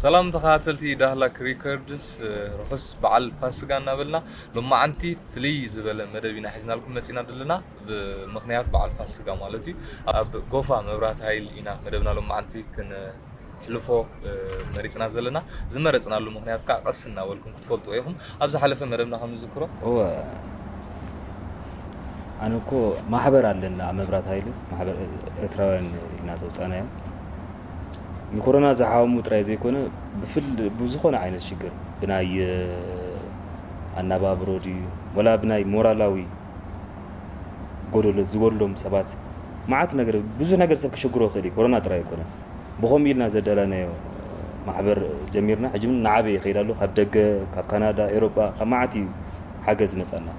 ሰላም ተኸታተልቲ ዳህላክ ሪከርድስ ርሑስ በዓል ፋስጋ እናበልና ሎማዓንቲ ፍልይ ዝበለ መደብ ኢና ሒዝናልኩም መፂና ዘለና ብምክንያት በዓል ፋስጋ ማለት እዩ ኣብ ጎፋ መብራት ሃይል ኢና መደብና ሎማዓንቲ ሕልፎ መሪጽና ዘለና ዝመረጽናሉ ምክንያት ከኣ ቀስ እናበልኩም ክትፈልጥዎ ኢኹም ኣብ ዝሓለፈ መደብና ከም ዝዝክሮ እወ ኣነ እኮ ማሕበር ኣለና ኣብ መብራት ሃይለ ማሕበር ኤርትራውያን ኢልና ዘውፃናዮ ንኮሮና ዝሓወሙ ጥራይ ዘይኮነ ብፍል ብዝኾነ ዓይነት ሽግር ብናይ ኣናባብሮ ድዩ ወላ ብናይ ሞራላዊ ጎደሎ ዝጎድሎም ሰባት መዓት ነገር ብዙሕ ነገር ሰብ ክሽግሮ ይኽእል እዩ ኮሮና ጥራይ ኣይኮነን ብኸምኡ ኢልና ዘዳላናዮ ማሕበር ጀሚርና ሕጂ እውን ንዓበየ ይኸይድ ኣሎ ካብ ደገ ካብ ካናዳ ኤሮጳ ካብ መዓት እዩ ሓገዝ ዝመፀና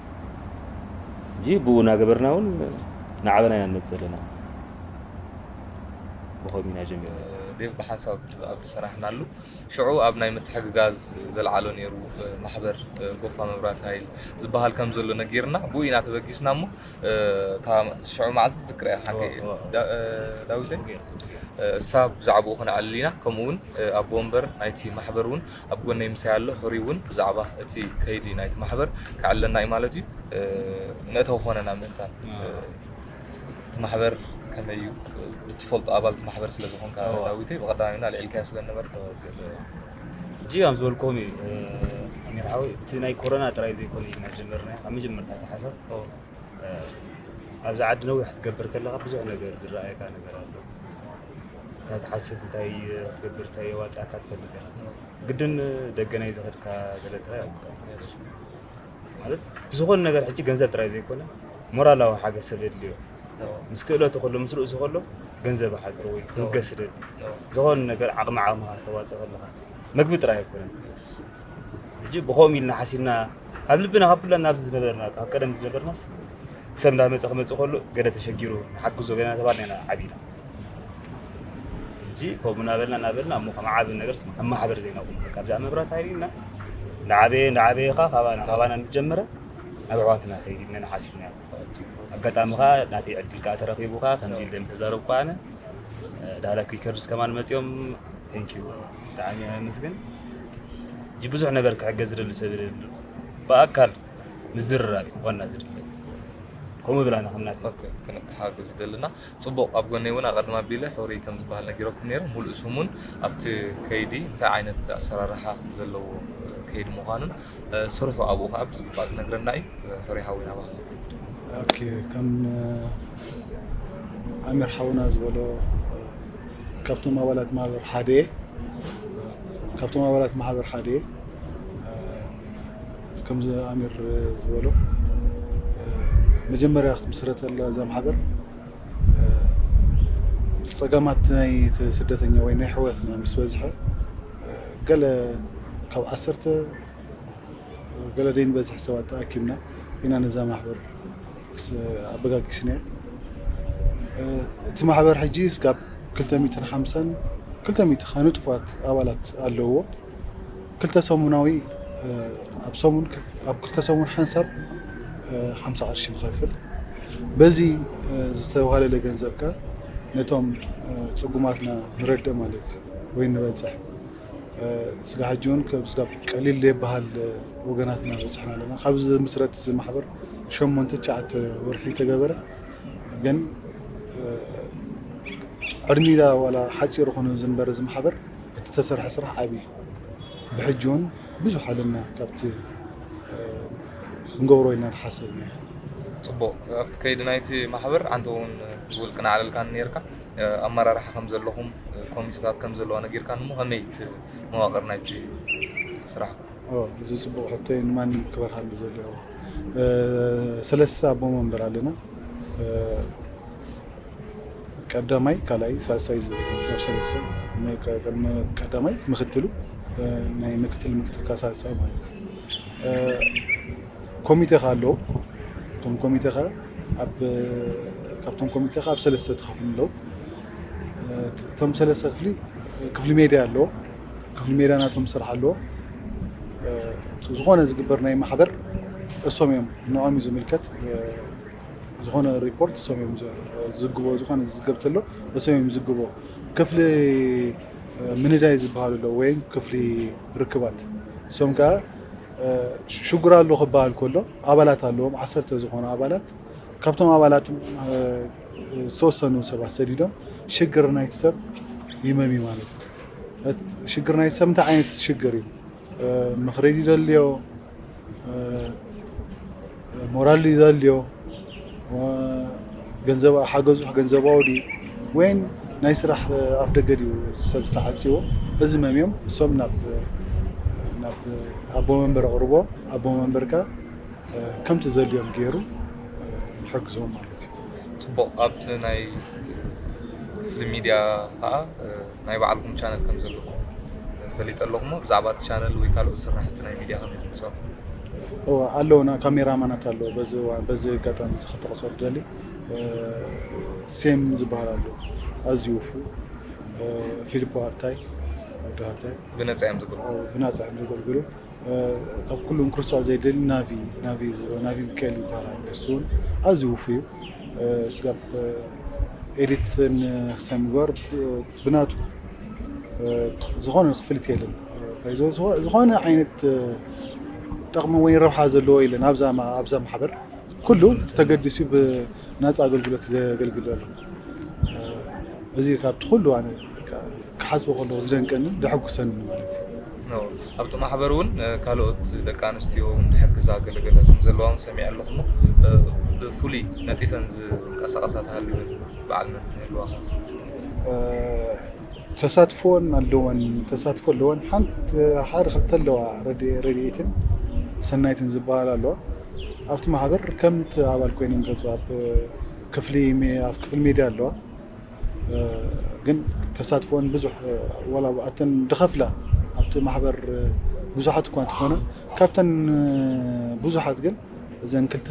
እጂ ብኡ እናገበርና እውን ንዓበና ኢና ንመፅ ዘለና ብኸምኡ ኢና ጀሚርና ብሓንሳብ ኣብቲ ሰራሕናሉ ሽዑ ኣብ ናይ ምትሕግጋዝ ዘልዓሎ ነይሩ ማሕበር ጎፋ መብራት ሃይል ዝበሃል ከም ዘሎ ነጊርና ብኡ ኢና ተበጊስና እሞ ካብ ሽዑ መዓልቲ ትዝክራ እያ ሓቂ ዳዊተይ እሳ ብዛዕባኡ ክንዕልል ኢና ከምኡ እውን ኣቦ ወንበር ናይቲ ማሕበር እውን ኣብ ጎነይ ምሳይ ኣሎ ሕሩይ እውን ብዛዕባ እቲ ከይዲ ናይቲ ማሕበር ክዕለና እዩ ማለት እዩ መእተዊ ኮነና ምእንታን እቲ ማሕበር ከመይ እዩ ብትፈልጦ ኣባል እቲ ማሕበር ስለ ዝኾንካ ዳዊተይ ብቐዳሚና ኣልዒልካዮ ስለ ዝነበርካ ሕጂ ከም ዝበልክዎም እዩ ኣሚር ሓወይ እቲ ናይ ኮሮና ጥራይ ዘይኮነ ኢልና ጀመርናዮ ካብ መጀመርታ እቲ ሓሳብ ኣብዚ ዓዲ ነዊሕ ክትገብር ከለካ ብዙሕ ነገር ዝረኣየካ ነገር ኣሎ እንታይ ትሓስብ እንታይ ክትገብር እንታይ የዋፅኣካ ትፈልጥ ግድን ደገ ናይ ዝኸድካ ገለ ጥራይ ኣይኮነን ማለት ብዝኾነ ነገር ሕጂ ገንዘብ ጥራይ ዘይኮነ ሞራላዊ ሓገዝ ሰብ የድልዮ ምስ ክእለቱ ከሎ ምስ ርእሱ ከሎ ገንዘብ ሓዝሮ ወይ ክትብገስ ደል ዝኾነ ነገር ዓቕሚ ዓቕምኻ ከተዋፅእ ከለኻ መግቢ ጥራይ ኣይኮነን ሕጂ ብኸምኡ ኢልና ሓሲብና ካብ ልብና ካብ ኩላና ኣብዚ ዝነበርና ካብ ቀደም ዝነበርናስ ሰብ እንዳመፀ ክመፅእ ከሎ ገለ ተሸጊሩ ንሓግዞ ገለና ተባልና ኢና ዓቢና ሕጂ ከምኡ እናበልና እናበልና እሞ ከም ዓቢ ነገርስ ከም ማሕበር ዜና ቁም በቃ ብዛዕባ መብራት ሃይል ኢልና ንዓበየ ንዓበየ ከዓ ካባና ካባና እንጀመረ ናብ ኣሕዋትና ከይድ ኢልና ንሓሲብና ኣጋጣሚ ከዓ ናተይ ዕድል ከዓ ተረኪቡ ከዓ ከምዚ ኢለ ምተዛረብ ከዓ ኣነ ዳህላ ክሪከርስ ከማን መፅኦም ቴንኪዩ ብጣዕሚ ኣመስግን ሕጂ ብዙሕ ነገር ክሕገዝ ዝደሊ ሰብ የለ ብኣካል ምዝርራብ እዩ ዋና ዝድለ ከምኡ ብላና ከምናት ክሓግዝ ዝደልና ጽቡቕ ኣብ ጎነይ ውን ኣቐድም ኣቢለ ሕሩይ ከም ዝበሃል ነጊረኩም ነይረ። ሙሉእ ስሙን ኣብቲ ከይዲ እንታይ ዓይነት ኣሰራርሓ ዘለዎ ከይዲ ምዃኑን ስርሑ ኣብኡ ከዓ ብዝግባእ ክነግረና እዩ። ሕሩይ ሓውና ኣባኻ። ኦኬ ከም ኣሚር ሓውና ዝበሎ ካብቶም ኣባላት ማህበር ሓደ እየ። ካብቶም ኣባላት ማህበር ሓደ እየ። ከምዚ ኣሚር ዝበሎ መጀመርያ ክትምስረተላ እዛ ማሕበር ፀገማት ናይ ስደተኛ ወይ ናይ ሕወትና ምስ በዝሐ ገለ ካብ ዓሰርተ ገለ ደይንበዝሕ ሰባት ተኣኪብና ኢና ነዛ ማሕበር ኣበጋጊስናያ እቲ ማሕበር ሕጂ ስጋብ ክልተ ሚእትን ሓምሳን ክልተ ሚእቲ ንጡፋት ኣባላት ኣለውዎ። ክልተ ሰሙናዊ ኣብ ሰሙን ኣብ ክልተ ሰሙን ሓንሳብ ሓምሳ ቅርሺ ንኸፍል በዚ ዝተዋሃለለ ገንዘብ ከ ነቶም ፅጉማትና ንረድእ ማለት እዩ ወይ ንበፅሕ ስጋ ሕጂ እውን ስጋብ ቀሊል ዘይበሃል ወገናትና በፅሕና ኣለና ካብ ዝምስረት እዚ ማሕበር ሸሞንተ ትሽዓተ ወርሒ ተገበረ ግን ዕድሚዳ ዋላ ሓፂር ኾነ ዝንበረ እዚ ማሕበር እቲ ተሰርሐ ስራሕ ዓቢ እዩ ብሕጂ ውን ብዙሕ ኣለና ካብቲ ክንገብሮ ኢና ድሓሰብናዮ። ጽቡቅ ኣብቲ ከይዲ ናይቲ ማሕበር ኣንተ ውን ብውልቅና ዕለልካኒ ኔርካ ኣመራርሓ ከም ዘለኹም ኮሚተታት ከም ዘለዋ ነጊርካኒ እሞ ከመይ እዩ እቲ መዋቅር ናይቲ ስራሕኩም? ኦ እዚ ጽቡቅ ሕቶ እዩ ንማንም ክበርሃሉ ዘለዎ ሰለስተ ኣቦ መንበር ኣለና። ቀዳማይ ካልኣይ ሳልሳይ ዝብል ማለት እዩ ኣብ ሰለስተ ቅድሚ ቀዳማይ ምክትሉ ናይ ምክትል ምክትል ካብ ሳልሳይ ማለት እዩ ኮሚቴ ከዓ ኣለዎ እቶም ኮሚቴ ከዓ ኣብ ካብቶም ኮሚቴ ከዓ ኣብ ሰለስተ ተኸፍሉ ኣለዉ እቶም ሰለስተ ክፍሊ ክፍሊ ሜድያ ኣለዎ ክፍሊ ሜድያ ናቶም ስራሕ ኣለዎ ዝኾነ ዝግበር ናይ ማሕበር እሶም እዮም ንዖም እዩ ዝምልከት ዝኾነ ሪፖርት እሶም እዮም ዝዝግቦ ዝኾነ ዝዝገብ ተሎ እሶም እዮም ዝዝግቦ ክፍሊ ምንዳይ ዝበሃሉ ኣሎ ወይም ክፍሊ ርክባት እሶም ከዓ ሽጉር ኣሎ ክበሃል ከሎ ኣባላት ኣለዎም ዓሰርተ ዝኾኑ ኣባላት ካብቶም ኣባላት ዝተወሰኑ ሰባት ሰዲዶም ሽግር ናይቲ ሰብ ይመም ማለት እዩ ሽግር ናይቲ ሰብ እንታይ ዓይነት ሽግር እዩ ምኽሪ ይደልዮ ሞራል ይደልዮ ገንዘብ ሓገዙ ገንዘባዊ ድዩ ወይን ናይ ስራሕ ኣፍደገ ድዩ ሰብ ዝተዓፅዎ እዚ መምዮም እሶም ናብ ናብ ኣቦ መንበር ኣቕርቦ ኣቦ መንበር ከ ከምቲ ዘልዮም ገይሩ ይሕግዞም ማለት እዩ ፅቡቕ ኣብቲ ናይ ክፍሊ ሚድያ ከዓ ናይ ባዕልኩም ቻነል ከም ዘለኩም ፈሊጠ ኣለኩ እሞ ብዛዕባ እቲ ቻነል ወይ ካልኦት ስራሕቲ ናይ ሚድያ ከመይ ኢኩም ትሰርሑ? እወ ኣለውና ካሜራ ማናት ኣለዉ በዚ እዋን በዚ ኣጋጣሚ እዚ ክጠቕሶ ዝደሊ እ፣ ሴም ዝበሃል ኣሎ ኣዝዩ ውፉ እ፣ ፊሊፖ ኣርታይ ወዲ ሃርታይ ብነፃ እዮም ዘገልግሉ። ብናፃ እዮም ዘገልግሉ ካብ ኩሉም ክርሶዖ ዘይደሊ ናቪ ናቪ ናቪ ሚካኤል ይባላል ንሱ እውን ኣዝዩ ውፉይ ስጋብ ኤዲት ክሳብ ምግባር ብናቱ ዝኾነ ክፍሊት የለን ዝኾነ ዓይነት ጥቕሚ ወይ ረብሓ ዘለዎ የለን ኣብዛ ኣብዛ ማሕበር ኩሉ ተገዲሱ ብናፃ ኣገልግሎት ዘገልግል ኣሎ እዚ ካብቲ ኩሉ ኣነ ክሓስቦ ከለኹ ዝደንቀንን ዘሐጉሰንን ማለት እዩ ነው። ኣብቲ ማሕበር እውን ካልኦት ደቂ ኣንስትዮ ዝሕግዛ ገለገለ ከም ዘለዋ እውን ሰሚዐ ኣለኹ እሞ ብፍሉይ ነጢፈን ዝንቀሳቐሳ ተሃልወን በዓል መን ይህልዋ ኸ ተሳትፎን ኣለወን ተሳትፎ ኣለወን ሓንቲ ሓደ ክልተ ኣለዋ ረድ- ረድኤትን ሰናይትን ዝበሃላ ኣለዋ ኣብቲ ማሕበር ከምቲ ኣባል ኮይነን ገጹ ኣብ ክፍሊ ኣብ ክፍሊ ሜድያ ኣለዋ ግን ተሳትፎን ብዙሕ ወላ ኣብኣተን ድኸፍላ ኣብቲ ማሕበር ብዙሓት እኳ እንተኾነ ካብተን ብዙሓት ግን እዘን ክልተ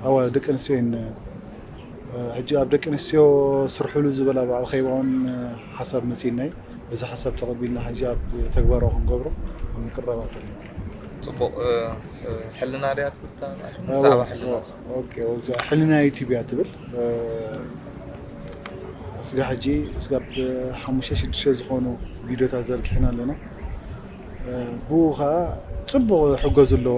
ኣዋ ደቂ ኣንስትዮ እየን ሕጂ ኣብ ደቂ ኣንስትዮ ስርሕሉ ዝበላ ብዓል ኸይባውን ሓሳብ መፂናይ እዚ ሓሳብ ተቐቢልና ሕጂ ኣብ ተግባራዊ ክንገብሮ ምቅረባት ኣለና ፅቡቕ ሕልና ድያ ትብል ብዛዕባ ሕልና ኦኬ እዛ ሕልና ዩቲብ እያ ትብል እስጋ ሕጂ እስጋብ ሓሙሽተ ሽዱሽተ ዝኾኑ ቪድዮታት ዘርጊሕና ኣለና ብኡ ከዓ ፅቡቕ ሕገዙ ኣለዎ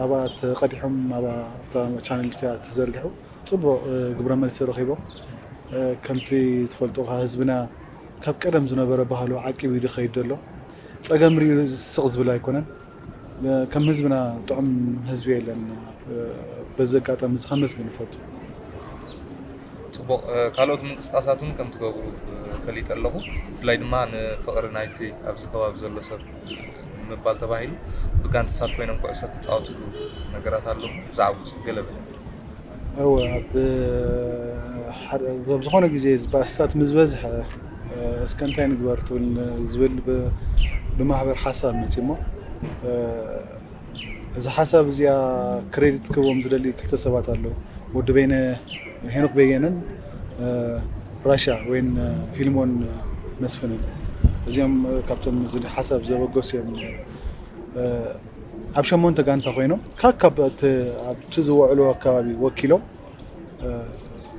ኣብኣ ተቐዲሖም ኣብታ ቻነል እቲኣ ተዘርጊሑ ፅቡቕ ግብረ መልሲ ረኺቦም ከምቲ ትፈልጦ ከዓ ህዝብና ካብ ቀደም ዝነበረ ባህሉ ዓቂቡ እዩ ዝኸይድ ዘሎ ፀገም ሪኡ ስቕ ዝብል ኣይኮነን ከም ህዝብና ጥዑም ህዝቢ የለን በዚ ኣጋጣሚ እዚ ከመስግን ይፈቱ። ጽቡቕ ካልኦት ምንቅስቃሳት ውን ከም ትገብሩ ፈሊጠ ኣለኹ ብፍላይ ድማ ንፍቕሪ ናይቲ ኣብዚ ከባቢ ዘሎ ሰብ ንምባል ተባሂሉ ብጋንትታት ኮይኖም ኩዕሶ ትጻወትሉ ነገራት ኣሎ ብዛዕብኡ ጽብ ገለ በለኒ። እወ ኣብ ሓደ ኣብ ዝኾነ ግዜ ባእስታት ምስ በዝሐ እስከ እንታይ ንግበር ትብል ዝብል ብማህበር ሓሳብ መፂኡ እሞ እዚ ሓሳብ እዚኣ ክሬዲት ክህቦም ዝደሊ ክልተ ሰባት ኣለዉ ወዲ በይነ ሄኖክ በየነን ራሻ ወይን ፊልሞን መስፍንን እዚኦም ካብቶም እዚ ሓሳብ ዘበገሱ እዮም ኣብ ሸሞንተ ጋንታ ኮይኖም ካካብ ኣብቲ ዝወዕሉ ኣከባቢ ወኪሎም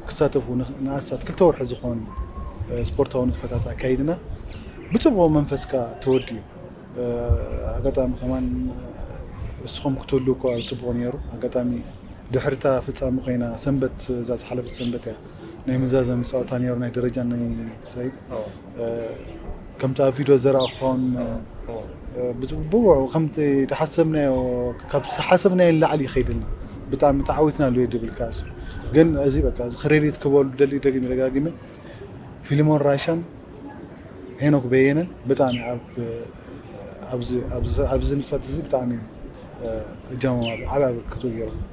ክሳተፉ ንኣስታት ክልተ ወርሒ ዝኾን ስፖርታዊ ንጥፈታት ኣካይድና ብፅቡቕ መንፈስ ከዓ ተወዲኡ ኣጋጣሚ ከማን እስኹም ክትህሉ እኳ ፅቡቕ ነይሩ ኣጋጣሚ ድሕርታ ፍፃሚ ኮይና ሰንበት እዛ ዝሓለፈት ሰንበት እያ ናይ መዛዘሚ ፀወታ ነይሩ ናይ ደረጃ ናይ ሳይድ ከምቲ ኣብ ቪድዮ ዘረኣኹም ብውዕኡ ከምቲ ዝሓሰብናዮ ካብ ዝሓሰብናዮ ንላዕሊ ይኸይድ ኣሎ ብጣዕሚ ተዓዊትና ኣሎ ድብል ካሱ ግን እዚ በቃ ክሬዲት ክበሉ ደሊ ደጊመ ደጋጊመ ፊልሞን ራሻን ሄኖክ በየነን ብጣዕሚ ኣብዚ ንጥፈት እዚ ብጣዕሚ እጃሞም ዓብይ ኣበርክቶ ገይሮም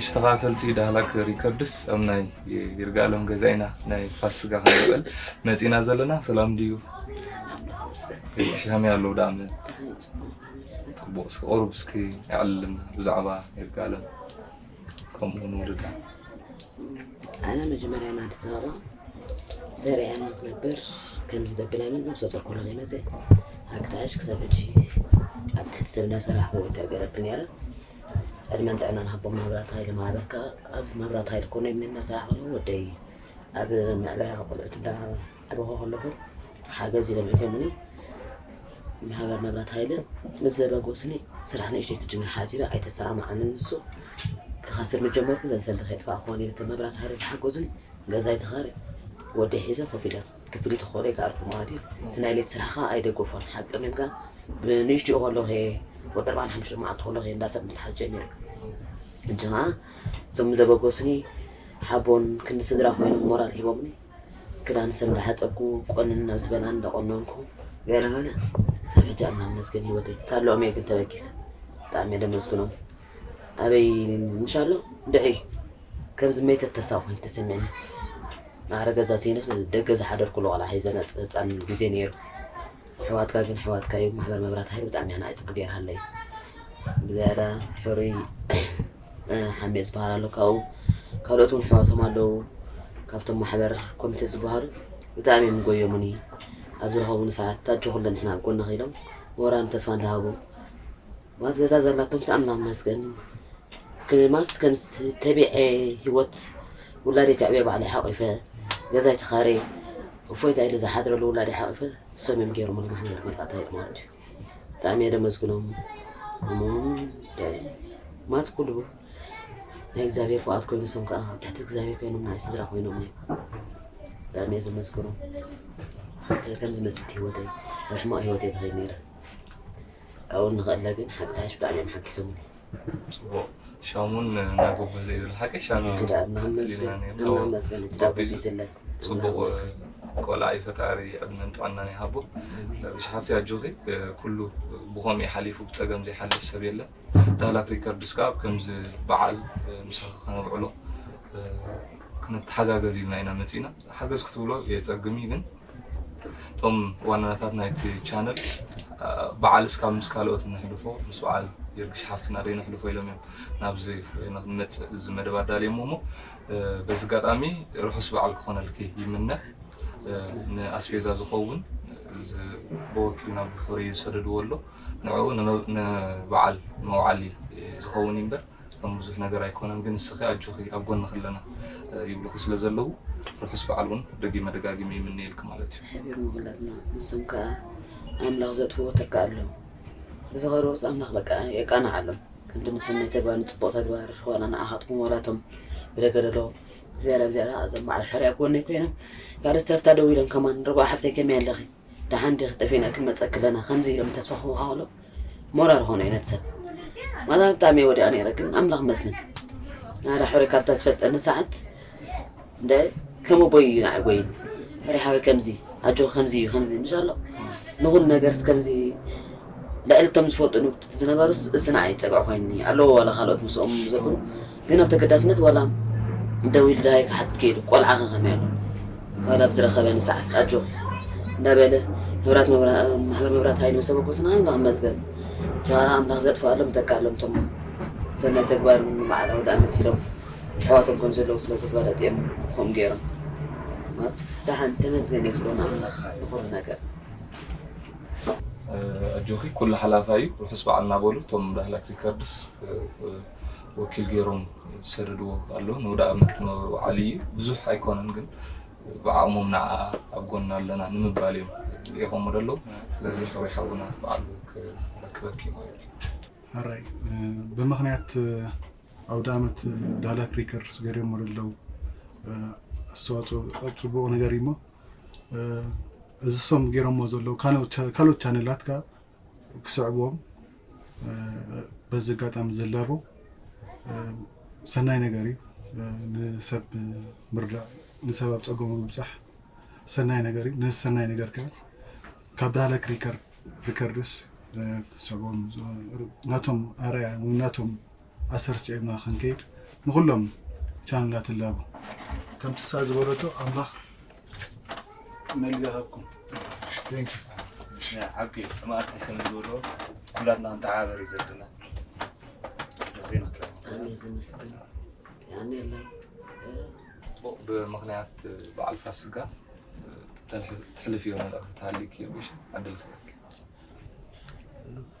እሺ ተኸታተልቲ ዳህላክ ሪከርድስ ኣብ ናይ ይርጋለም ገዛ ኢና ናይ ፋስጋ ክንበል መፂና ዘለና ሰላም ድዩ ሻሚ ኣለዉ ዳኣመ ጽቡቅ እስኪ ቁሩብ እስኪ ኣዕልልና ብዛዕባ ይርጋለም ከምኡ ውን ውሉዳ። ኣነ መጀመርያ ንኣዲስ ኣበባ ሰሪዐ እያ ክትነብር ከምዚ ዘብለኒ ነብሰ ጾር ኮነ ዘይመፀ ኣክታሽ ክሳብ ሕጂ ኣብ ትሕቲ ሰብ እናሰራሕኩ ወይ ተርገረብ ነረ ዕድመን ጥዕናን ሃቦ መብራት ሃይለ ማህበርካ ኣብዚ መብራት ሃይለ ኮነ እናሰራሕ ከለዉ ወደይ ኣብ ምዕባያ ቆልዑት እንዳ ክበኹ ከለኹ ሓገዝ ኢሎም ሒቶምኒ ማሕበር መብራት ሃይለ ምስ ዘበገሱኒ ስራሕ ንእሽተይ ክጅምር ሓሲበ ኣይተሰማምዓንን ንሱ ክኸስር ምጀመርኩ ዘን ሰልዲ ከይጥፋእ ክኾን ኢለ እቶም መብራት ሃይለ ዝሓገዙኒ ገዛይ ተኻሪ ወደ ሒዘ ኮፍ ኢለ ክፍሊ ተኾለ ይከኣልኩ ማለት እዩ እቲ ናይ ሌት ስራሕ ከዓ ኣይደገፎን ሓቂ ምም ከዓ ብንእሽትኡ ከለኹ እየ ወደ ኣርባዓን ሓሙሽተ መዓልቲ ከለኹ እየ እንዳሰብ ምትሓዝ ጀሚሩ እንጂ ከዓ እዞም ዘበገሱኒ ሓቦን ክንዲ ስድራ ኮይኖም ሞራል ሂቦምኒ ክዳን ሰብ እንዳሓጸብኩ ቆንን ናብ ዝበላን እንዳቆነንኩ ገረመነ ክሳብ ሕጂ ኣናኣመስገን ሂወተይ ሳለኦም እየ ግን ተበጊሰ ብጣዕሚ እየ ደመስግኖም ኣበይ እንሻሎ ድዒ ከም ዝመይተት ተሳብ ኮይኑ ተሰሚዕኒ ማዕረ ገዛ ሲንስ ደገ ዝሓደርኩሉ ቆልዓ ሒዘ ነፅ ህፃን ግዜ ነይሩ ሕዋትካ ግን ሕዋትካ እዩ ማሕበር መብራት ሃይል ብጣዕሚ ኣናዒ ፅቡቅ ገይርሃለይ ብዝያዳ ሕሩይ ሃሜ ዝበሃል ኣሎ ካብኡ ካልኦት እውን ኣሕዋቶም ኣለዉ ካብቶም ማሕበር ኮሚቴ ዝበሃሉ ብጣዕሚ እዮም ጎዮሙኒ ኣብ ዝረኸቡኒ ሰዓት ታጆኹ ኣለንሕና ኣብ ጎንኺ ኢሎም ሞራን ተስፋ እንዳሃቡ ማለት በዛ ዘላቶም ሰኣምና መስገን ክማስ ከም ተቢዐ ህይወት ውላዴ ክዕበ ባዕለ ሓቂፈ ገዛይ ተኻሬ እፎይታ ኢለ ዝሓድረሉ ውላዴ ሓቂፈ እሶም እዮም ገይሮምሉ ማሕበር መርቃታ ማለት እዩ ብጣዕሚ እየ ደመስግኖም እሞም ማት ኩሉ ናይ እግዚኣብሔር ፍቓድ ኮይኑ ሰም ከዓ ኣብ ትሕቲ እግዚኣብሔር ኮይኖም ናይ ስድራ ኮይኖም እዮም ብጣዕሚ እየ ዘመስግኖ ከም ዝመስልቲ ህይወተይ ኣብ ሕማቕ ህይወተይ ተኸይ ነይረ ካብኡ ንኸእለ ግን ሓቂ ተሓሽ ብጣዕሚ እዮም ሓጊሶም ፅቡቅ ሻሙን እናጎበዘ ይብል ሓቂ ሻሙ ክዳን ናመስገን ናመስገን እቲ ዳቦ ይስለን ጽቡቅ ቆልዓ እዩ ፈጣሪ ዕድመን ጥዕናን ይሃቦ። ርግሽ ሓፍተይ ኣጆኺ ኩሉ ብኸምኡ እዩ ሓሊፉ ብጸገም ዘይሓልፍ ሰብ የለን። ዳህላክ ሪከርድስ ከኣ ኣብ ከምዚ በዓል ምሳኺ ከነብዕሎ ክንተሓጋገዝ ኢልና ኢና መጺእና ሓገዝ ክትብሎ የጸግም እዩ ግን እቶም ዋናታት ናይቲ ቻነል በዓል እስካብ ምስ ካልኦት ነሕልፎ ምስ በዓል የርግሽ ሓፍትና ደይ ነሕልፎ ኢሎም እዮም ናብዚ ንክንመፅእ እዚ መደብ ኣዳልየሞ እሞ በዚ ኣጋጣሚ ርሑስ በዓል ክኾነልኪ ይምነ። ንኣስቤዛ ዝኸውን ብወኪልና ብፍሩይ ዝሰደድዎ ኣሎ ንዕኡ ንበዓል መውዓሊ ዝኸውን እዩ እምበር ከም ብዙሕ ነገር ኣይኮነን። ግን ንስኺ ኣጆኺ ኣብ ጎንኺ ኣለና ይብሉኺ ስለ ዘለዉ ርሑስ በዓል እውን ደጊመ ደጋጊመ ይምነየልኪ ማለት እዩ። ሓቢር ምኹላትና ንሶም ከዓ ኣምላኽ ዘጥፍኡ ትርካ ኣሎ እዚ ኸርኡስ ኣምላኽ በቃ የቃንዓሎም። ክንዲ ንሰናይ ተግባር ንጽቡቕ ተግባር ዋላ ንኣኻትኩም ዋላ እቶም ብደገደሎ ዝያዳ ብዝያዳ እዞም በዓል ሕሪ ኣብ ጎነይ ኮይኖም ካልእ ዝተፍታ ደው ኢሎም ከማን ርግኦ ሓፍተይ ከመይ ኣለኺ ደሓን ዲኺ ጠፊእና ክንመጸኪ ኣለና ከምዚ ኢሎም ተስፋ ክህቡኻ ከሎ ሞራል ኾኑ እዩ ነቲ ሰብ ማታ ብጣዕሚ እየ ወዲቓ ነይረ ግን ኣምላኽ መስልን ኣረ ሕሪ ካብታ ዝፈልጠኒ ሰዓት እንደ ከመ ቦይ እዩ ንዓይ ጎይይ ሕሪ ሓወይ ከምዚ ኣጆኺ ከምዚ እዩ ከምዚ እዩ ምሻሎ ንኹሉ ነገርስ ከምዚ ልዕሊ እቶም ዝፈልጡ ንብትቲ ዝነበሩስ እስ ንዓይ ፀግዒ ኮይኑኒ ኣለዎ ዋላ ካልኦት ምስኦም ዘብሉ ግን ኣብ ተገዳስነት ዋላ ደው ኢሉ ድሃይ ክሓት ከይዱ ቆልዓ ከኸመይ ኣሎ ዋላ ኣብ ዝረኸበኒ ሰዓት ኣጆኺ እንዳበለ መብራት ማሕበር መብራት ሃይል ምስ ኣበገሱና ኣምላኽ ይመስገን ብቻ ኣምላኽ ዘጥፍኣሎም ተካሎም ቶም ሰናይ ተግባር በዓል ኣውደ ዓመት ኢሎም ኣሕዋቶም ከም ዘለዉ ስለ ዝፈለጡ እዮም ከምኡ ገይሮም ማለት ደሓን ተመስገን እዩ ዝብሎ ንኣምላኽ ንኹሉ ነገር ኣጆኺ ኩሉ ሓላፋ እዩ ርሑስ በዓል እናበሉ እቶም ዳህላክ ሪከርድስ ወኪል ገይሮም ዝሰደድዎ ኣሎ ንወደ ኣመት መብዓል እዩ ብዙሕ ኣይኮነን ግን ብዓቕሞም ንዓ ኣብ ጎና ኣለና ንምባል እዮም ልኢኾሞ ደለዉ ስለዚ ሕሩይ ሓውና በዓል ክረክበኪ ማለት እዩ ሕራይ ብምክንያት ኣውደኣመት ዳህላክ ሪከርድስ ገይረሞ ለለው ኣስተዋፅኦ ኣብ ፅቡቕ ነገር እዩ እሞ እዚ ሶም ገይረሞ ዘለው ካልኦት ቻነላት ከዓ ክስዕብዎም በዚ ኣጋጣሚ ዝላቦ ሰናይ ነገር እዩ ንሰብ ምርዳእ ንሰብ ኣብ ፀገሙ ምብፃሕ ሰናይ ነገር እዩ ነዚ ሰናይ ነገር ከዓ ካብ ዳህላክ ሪከርድስ ክስዕብዎም ናቶም ኣርኣያ ናቶም ኣሰር ስዒብና ክንከይድ ንኹሎም ቻነላት እላቦ። ከምቲ እሳ ዝበለቶ ኣምላኽ መልቢ ይሃብኩም። Thank you. ዓቢ ከም ኣርቲስት ንዝብሎ ኩላትና ንተሓባበር እዩ ዘለና ዜና ጥራይ ብጣዕሚ እዩ ዝምስገን ያን የለን ብምክንያት በዓል ፋስጋ ተሕልፍዮ መልእኽቲ ተሃሊዩኪ ቢሽ ዓድል ክበኪ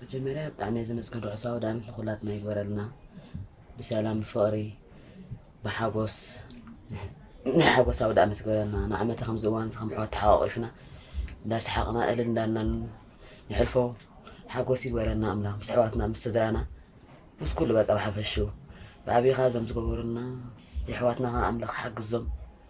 መጀመርያ ብጣዕሚ እየ ዘመስግን ርሑስ ኣውዳኣመት ንኩላትና ይግበረልና ብሰላም ብፍቅሪ ብሓጎስ ናይ ሓጎስ ኣውዳኣመት ይግበረልና ንዓመተ ከምዚ እዋን ከም ኣሕዋት ተሓቋቂፍና እንዳሰሓቅና እልል እንዳልናን ንሕልፎ ሓጎስ ይግበረልና ኣምላኽ ምስ ኣሕዋትና ምስ ስድራና ምስ ኩሉ በቃ ብሓፈሽኡ ብዓብይኻ እዞም ዝገበሩልና የሕዋትና ከዓ ኣምላኽ ሓግዞም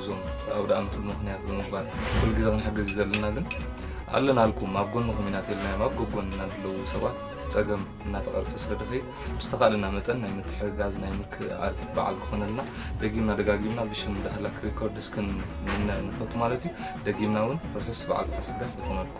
እዞም ኣውደኣመት ብምኽንያት ብምግባር ኩሉ ግዜ ክንሕግዝ ዘለና ግን ኣለናልኩም ኣብ ጎንኹም ኢና ተልናዮም ኣብ ጎጎንና ንለዉ ሰባት ፀገም እናተቐርፈ ስለ ድኸይድ ብዝተኻእለና መጠን ናይ ምትሕግጋዝ ናይ ምክእኣል በዓል ክኾነልና ደጊምና ደጋጊምና ብሽም ዳህላክ ሪኮርድስ ክንምነ ንፈቱ ማለት እዩ። ደጊምና እውን ርሑስ በዓል ፋሲጋ ይኹነልኩም።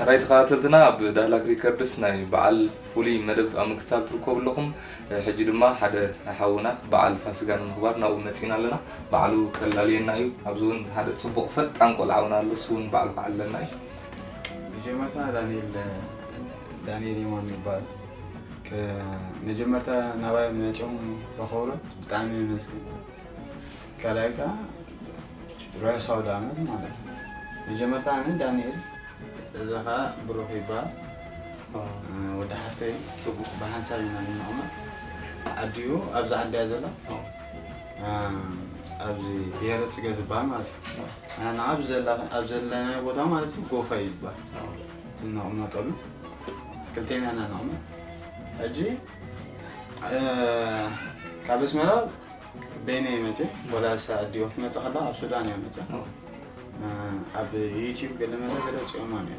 ሕራይ ተኸታተልትና ኣብ ዳህላክ ሪከርድስ ናይ በዓል ፍሉይ መደብ ኣብ ምክትታል ትርከቡ ኣለኹም ሕጂ ድማ ሓደ ሓውና በዓል ፋስጋ ንምኽባር ናብኡ መፂና ኣለና በዓሉ ከላልየና እዩ ኣብዚ እውን ሓደ ፅቡቕ ፈጣን ቆልዓውና ኣሎ እሱ እውን በዓሉ ክዓለና እዩ መጀመርታ ዳንኤል ዳንኤል የማን ይባል መጀመርታ ናባይ መፅኦም ረኸብሮ ብጣዕሚ የመስግን ካልኣይ ከዓ ርሑስ ኣውደኣመት ማለት እዩ። መጀመርታ ኣነ ዳንኤል እዚ ከዓ ብሩኽ ይበሃል ወዲ ሓፍተይ ፅቡቕ ብሓንሳብ ኢና ንቕመጥ ዓዲኡ ኣብዚ ዓዲ እያ ዘላ ኣብዚ ብሄረ ፅገ ዝበሃል ማለት እዩ ንሕና ኣብ ዘላ- ኣብ ዘለናዮ ቦታ ማለት እዩ ጎፋ እዩ ዝበሃል እቲ ንቕመጠሉ ክልቴና ኢና ንቕመጥ ሕጂ ካብ ኣስመራ በይነ ይመፅ ወላ እሳ ኣዲኦ ክትመፅእ ከላ ኣብ ሱዳን እያ መፅያ ኣብ ዩቲብ ገለ መለ ገለ ፅኦማ ነያ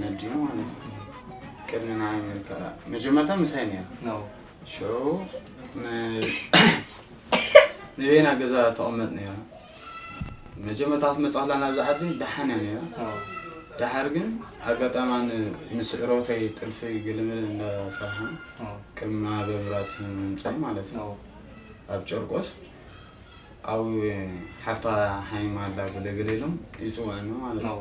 ነዲኡ ማለት እዩ ቅድሚ ንዓይ ምልክኣ መጀመርታ ምሳይ ነያ ሸው ንበይና ገዛ ተቐመጥ ነያ መጀመርታ ክትመፅኣላ ናብዚ ዓዲ ደሓን እያ ነይራ ደሓር ግን ኣጋጣሚ ኣነ ምስ ዕሮተይ ጥልፊ ግልምል እንዳሰርሓን ቅድሚ ማህበ ምራት ምምፃይ ማለት እዩ ኣብ ጨርቆስ ኣብ ሓፍታ ሓይማ ኣላ ብልግል ኢሎም ይፅውዕኒ ማለት እዩ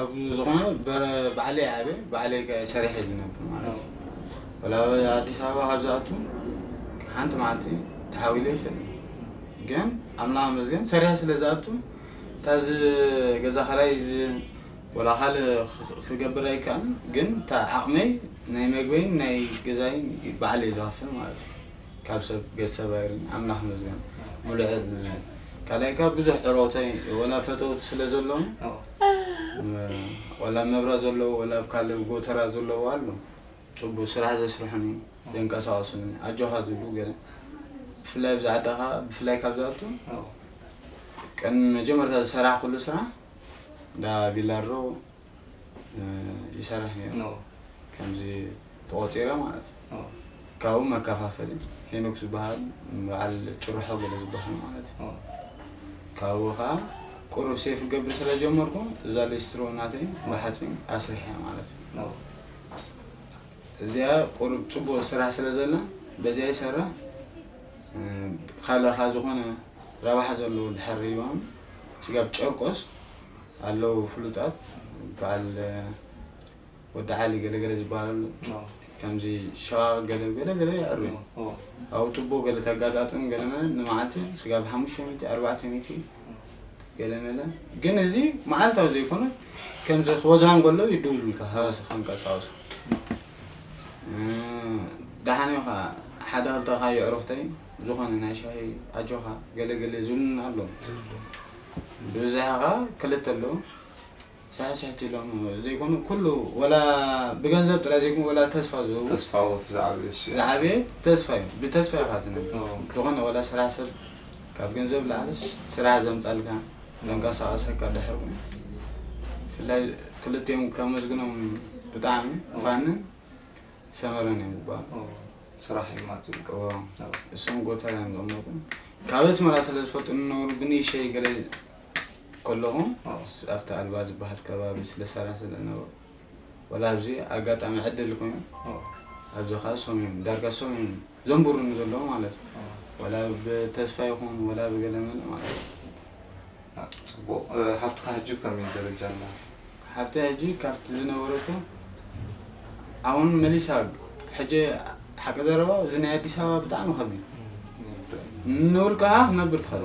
ኣብ ዝኾነ ባዕለይ ዓብየ ባዕለይ ከ ሰሪሐ እየ ዝነብር ማለት እዩ። ወላ ኣብ ኣዲስ ኣበባ ካብ ዝኣቱ ሓንቲ መዓልቲ ተሓዊለ ኣይፈልጥን። ግን ኣምላኽ ይመስገን ሰሪሐ ስለ ዝኣቱ እታ እዚ ገዛ ኸራይ እዚ ወላ ካልእ ክ- ክገብር ኣይከኣልን ግን እታ ዓቕመይ ናይ መግበይን ናይ ገዛይን ባዕለይ ዝኸፍል ማለት እዩ። ካብ ሰብ ገዝ ሰብ ኣይርን ኣምላኽ ይመስገን ሙሉእ ዕድመ ካልኣይ ካብ ብዙሕ ዕሮክተይ ወላ ፈተውቲ ስለ ዘለዉ ዋላ ኣብ መብራት ዘለዎ ዋላ ኣብ ካልእ ጎተራ ዘለዎ ኣሎ ፅቡቅ ስራሕ ዘስርሑን እዩ ዘንቀሳቀሱን እዩ ኣጆኻ ዝብሉ ገለ ብፍላይ ኣብዚ ዓድኻ ብፍላይ ካብ ዝኣቱ ቀን መጀመርታ ዝሰራሕ ኩሉ ስራሕ እንዳ ቢላሮ ይሰርሕ ነይሩ ከምዚ ተቆፂረ ማለት እዩ ካብኡ መከፋፈሊ ሄኖክ ዝበሃል በዓል ጭርሖ ገለ ዝበሃል ማለት እዩ ካብኡ ከዓ ቁሩብ ሴፍ ገብር ስለጀመርኩ እዛ ሌስትሮ ናተይ ብሓፂን ኣስሪሐ ማለት እዩ እዚኣ ቁሩብ ፅቡቅ ስራሕ ስለዘላ በዚኣ ይሰራሕ ካልእካ ዝኾነ ረብሓ ዘለዎ ድሕር ሪባም ስጋብ ጨርቆስ ኣለዉ ፍሉጣት በዓል ወዲ ዓሊ ገለ ገለ ዝበሃል ኣሎ ኦ፣ ከምዚ ሸቓቕ ገለ ገለ ገለ የዕሩ እዮም ኦ፣ ኦ፣ ኣብኡ ቱቦ ገለ ተጋጣጥም ገለ መለ ንመዓልቲ ስጋብ ሓሙሽተ ሚእቲ ኣርባዕተ ሚእቲ ገለ መለ ግን እዚ መዓልታዊ ዘይኮነ ከምዚ ክበዝሖ እንከሎ ይድውሉልካ ሃገስ ክንቀሳውሶ ደሓን እዩ ከዓ ሓደ ክልተ ከዓ የዕሩኽተይ ዝኾነ ናይ ሻሂ ኣጆኻ ገለ ገለ ዝብሉና ኣለዉ ብብዝሒ ከዓ ክልተ ኣለዉ ሳሕስሕቲ ኢሎም ዘይኮኑ ኩሉ ወላ ብገንዘብ ጥራይ ዘይኮኑ ወላ ተስፋ ዝህቡ ተስፋዎት ዝዓበየ ዝዓበየ ተስፋ እዩ ብተስፋ ኢኻ ትነብር ዝኾነ ወላ ስራሕ ሰብ ካብ ገንዘብ ላዕልስ ስራሕ ዘምጻልካ ዘንቀሳቐሰካ ድሕር ኮይኑ ብፍላይ ክልቲኦም ከመስግኖም ብጣዕሚ ፋንን ሰመረን እዮም ዝበሃሉ ስራሕ እዩ ማጽብቅ እሶም ጎተራ እዮም ዘመጡ ካብ ኣስመራ ስለ ዝፈልጡ ንነብሩ ብንእሸይ ገለ ከለኹም ኣብቲ ኣልባ ዝበሃል ከባቢ ስለ ሰራሕ ስለ ነበርኩ ወላ ኣብዚ ኣጋጣሚ ዕድል ኮይኑ ኣብዚ ከዓ ሶም እዮም ዳርጋ ሶም እዮም ዘንብሩኒ ዘለዉ ማለት እዩ ወላ ብተስፋ ይኹን ወላ ብገለመለ ማለት እዩ ፅቡቅ ሃፍትካ ሕጂ ከመይ ደረጃ ኣላ ሓፍቲ ሕጂ ካብቲ ዝነበረቶ ኣሁን መሊሳ ሕጂ ሓቂ ዘረባ እዚ ናይ ኣዲስ ኣበባ ብጣዕሚ ከቢድ ንውልቃ ክነብር ትኸእል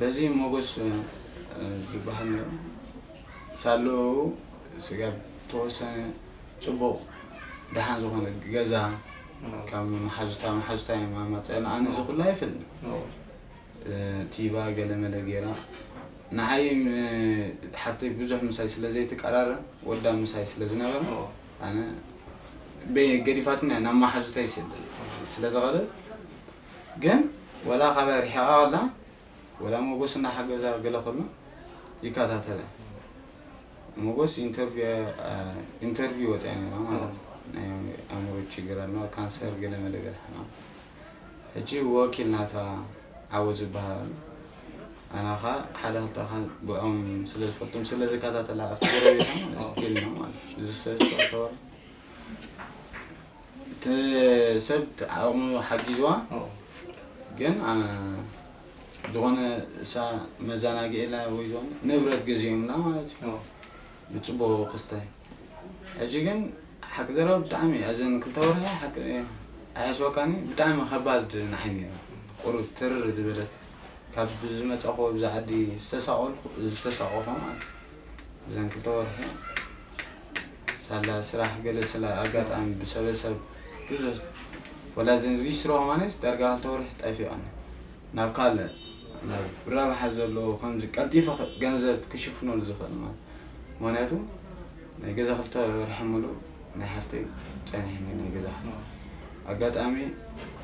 በዚ ሞጎስ ዝብሃል ሳልኡ ስጋብ ተወሰነ ጽቡቕ ደሓን ዝኾነ ገዛ ካብ መሓዙታ መሓዙታ እዮም ኣማጽኣኒ ኣነ እዚ ኩሉ ኣይፈልጥን ቲቫ ገለመለ ጌራ ንዓይ ሓፍተይ ብዙሕ ምሳይ ስለ ዘይትቀራረ ወዳ ምሳይ ስለ ዝነበረ ኣነ ገዲፋትኒ ናብ መሓዙተይ ስለ ዝቐደል ግን ወላ ካባይ ሪሒቃ ከላ ወላ ሞጎስ እናሓገዛ ገለ ከሎ ይከታተላ ሞጎስ ኢንተርቪው ኢንተርቪው ወጺኣ ነይራ ማለት ናይ ኣእምሮ ችግር ኣለዋ ካንሰር ገለ መለ ገለ ሕማም ሕጂ ወኪል ናታ ዓወት ዝበሃል ኣሎ ኣና ከ ሓደ ክልተ ከ ብዖም ስለ ዝፈልጦም ስለ ዝከታተላ ኣብቲ ጎረቤታ ማለት ስቲል ነው ማለት እዚ ሰስ ተወራ እቲ ሰብ ዓቕሙ ሓጊዝዋ ግን ኣ ዝኾነ እሳ መዘናግዒ ኢላ ወይ ዝኾነ ንብረት ገዚኦምላ ማለት እዩ ብፅቡቕ ክስታይ ሕጂ ግን ሓቂ ዘረባ ብጣዕሚ ኣዘን ክልተ ወርሒ ሓቂ ኣይሓስበካኒ ብጣዕሚ ከባድ ንዓይ ነይራ ቁሩብ ትርር ዝበለት ካብ ዝመፃኹ ኣብዚ ዓዲ ዝተሳቐልኩ ዝተሳቐኹ ማለት እዩ እዘን ክልተ ወርሒ ሳላ ስራሕ ገለ ስላ ኣጋጣሚ ብሰበ ሰብ ብዙሕ ወላ እዘን ሪስትሮ ማለት ዳርጋ ክልተ ወርሒ ጠፊኣን ናብ ካልእ ናብ ረብሓ ዘለዎ ከምዚ ቀልጢፈ ክ- ገንዘብ ክሽፍነሉ ዝኽእል ማለት ምክንያቱ ናይ ገዛ ክልተ ወርሒ ምሉእ ናይ ሓፍተይ ጸኒሕኒ ናይ ገዛ ሓፍተይ ኣጋጣሚ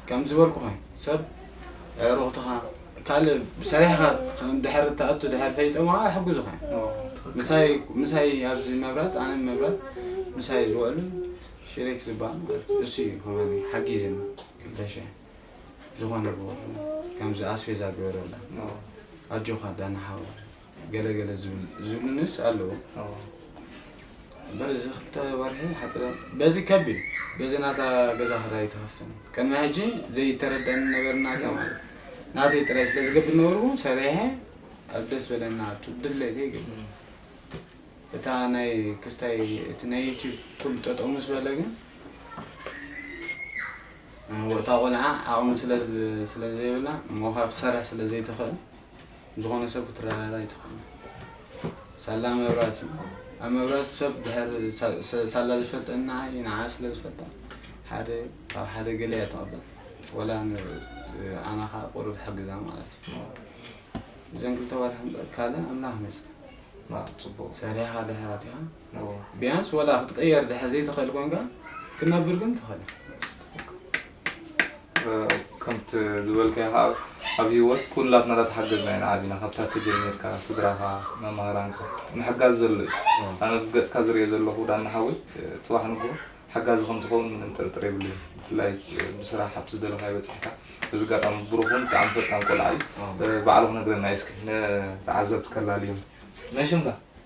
ከም ዝበልኩ ኮይኑ ሰብ ኣዕሩኽትኻ ካልእ ሰሪሕኻ ድሕር እትኣቱ ድሕር ፈሊጦም ኸኣ ኣይሕግዙኻን እዮም። ዋው ትኽክል ምሳይ እኮ። ምሳይ ኣብዚ መብራት ኣነ መብራት ምሳይ ዝውዕሉ ሽሪክ ዝበሃል ማለት እዩ። እሱ እዩ ከማኒ ሓጊዝኒ ክልተ ሽሕ ዝኾነ ብኹሉ ከምዚ ኣስቤዛ ግበረላ ዋው ኣጆኻ ዳኒ ሓወይ። ገለ ገለ ዝብሉንስ ኣለዉ እምበር እዚ ክልተ ወርሒ ሓቂ በዚ ከቢድ በዚ ናታ ገዛ ክራይ ትኸፍል ቅድሚ ሕጂ ዘይተረዳኒ ነገር ናተ ማለት ናተይ ጥራይ ስለ ዝገብር ነበርዎ ሰሪሐ ኣብ ደስ በለና ኣብቲ ድለይተ ይገብር እታ ናይ ክስታይ እቲ ናይ ዩቲብ ኩሉ ጠጠው ምስ በለ ግን እታ ቆልዓ ዓቕሚ ስለ ዘይብላ ሞኻ ክሰርሕ ስለ ዘይትኽእል ዝኾነ ሰብ ክትረዳዳእ ኣይትኽእልን። ሳላ መብራት እዩ። ኣብ መብራት ሰብ ድሕር ሳላ ዝፈልጠ ንዓይ ንዓ ስለ ዝፈልጣ ሓደ ካብ ሓደ ገለ እያ ተቐበል ወላ ኣነ ከዓ ቁሩብ ሕግዛ ማለት እዩ እዘን ክልተ ወርሒ እምበር ካልእ ኣምላኽ ይመስገን ሰሪሕኻ ድሕር ኣቲኻ እወ ቢያንስ ወላ ክትቅየር ድሕር ዘይትክእል ኮንካ ክትነብር ግን ትክእል ከምቲ ዝበልካዮ ከዓ ኣብ ሂወት ኩላትና እንዳተሓገዝና ኢና ዓቢና ካብ ታተ ጀሚርካ ስድራኻ መማህራንካ ምሕጋዝ ዘሎ እዩ ኣነ ብገፅካ ዝሪኦ ዘለኹ ዳኒ ሓወይ ፅባሕ ንግሆ ሓጋዚ ከም ትኸውን ምንም ጥርጥር የብለይን ብፍላይ ብስራሕ ኣብቲ ዝደለኻዮ በፂሕካ በዚ ኣጋጣሚ ብሩኹን ብጣዕሚ ፈጣን ቆልዓ እዩ ባዕሉ ክነግረና እዩ እስኪ ንተዓዘብቲ ከላልዮም መን ሽምካ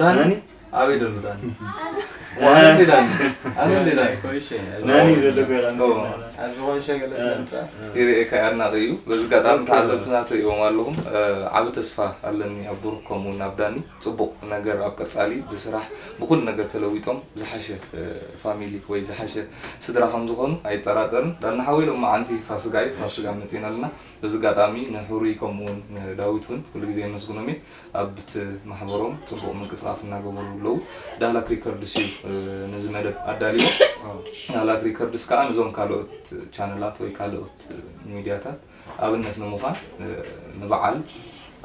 ዳኒ ኣበይ ደሎ ዳኒ ዋንዴ ዳኒ ኣበይ ዳኒ ናኒ ዘሎ ገራን ኣብ ዝኾነ ሸገለ ስለምፃ ይርኤካ ኣድናቂ እዩ በዚ ኣጋጣሚ ተዓዘብትና ትርእዎም ኣለኹም ዓብ ተስፋ ኣለኒ ኣብ ብሩክ ከምኡ ናብ ዳኒ ፅቡቅ ነገር ኣብ ቀፃሊ ብስራሕ ብኩሉ ነገር ተለዊጦም ዝሓሸ ፋሚሊ ወይ ዝሓሸ ስድራ ከም ዝኾኑ ኣይጠራጠርን ዳና ሓወይ ሎም መዓንቲ ፋስጋ እዩ ፋስጋ መፂና ኣለና በዚ ኣጋጣሚ ንሕሩይ ከምኡውን ንዳዊት እውን ኩሉ ግዜ የመስግኖም እየ ኣብቲ ማሕበሮም ፅቡቕ ምንቅስቓስ እናገበሩ ኣለዉ። ዳህላክ ሪከርድስ እዩ ነዚ መደብ ኣዳልይዎ። ዳህላክ ሪከርድስ ከዓ ንዞም ካልኦት ቻነላት ወይ ካልኦት ሚድያታት ኣብነት ንምዃን ንበዓል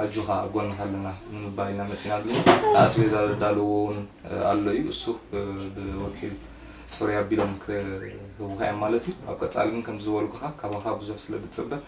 ኣጆኻ ኣብ ጎንኻ ኣለና ንምባል ኢና መፂና ኣለና። ንኣስቤዛ ዘዳለውዎ እውን ኣሎ እዩ። እሱ ብወኪል ሕሩይ ኣቢሎም ክህቡኻ እዮም ማለት እዩ። ኣብ ቀፃሊ ግን ከምቲ ዝበልኩኻ ካባኻ ብዙሕ ስለድፅበ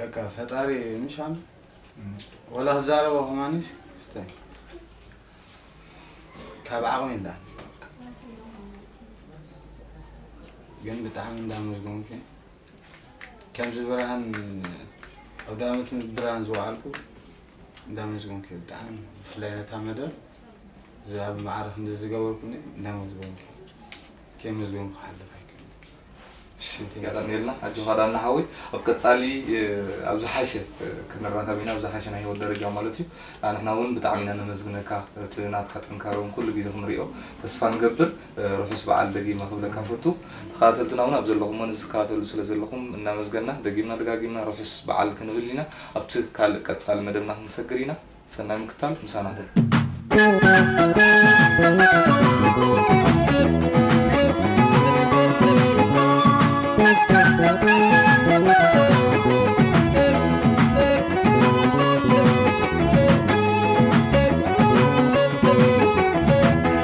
በቃ ፈጣሪ ንሻም ወላ ክዛረቦ ከማኒ ስተ ካብ ዓቕሚ ኢላ ግን ብጣዕሚ እንዳመስገንኩ ከምዚ ብርሃን ኣውዳመት ምስ ብርሃን ዝወዓልኩ እንዳመዝጎንኪ ብጣዕሚ ብፍላይ ነታ መደብ ዝኣብ ማዕረ ክንዲ ዝገበርኩኒ እንዳመዝጎንኪ ከይመዝጎንኩ ክሓልፍ ኣይክእልንገጠርኒልና ኣጆኻ ዳና ሓወይ ኣብ ቀፃሊ ኣብ ዝሓሸ ክንራኸብ ኢና ኣብ ዝሓሸ ናይ ህይወት ደረጃ ማለት እዩ ንሕና እውን ብጣዕሚ ኢና ነመስግነካ እቲ ናትካ ጥንካረ እውን ኩሉ ግዜ ክንሪኦ ተስፋ ንገብር ርሑስ በዓል ደጊመ ክብለካ እፈቱ። ተኸታተልትና እውን ኣብ ዘለኹሞ ነዚ ትከታተሉ ስለ ዘለኹም እናመስገና ደጊምና ደጋጊምና ርሑስ በዓል ክንብል ኢና። ኣብቲ ካልእ ቀጻሊ መደብና ክንሰግር ኢና። ሰናይ ምክታል ምሳና ኩን።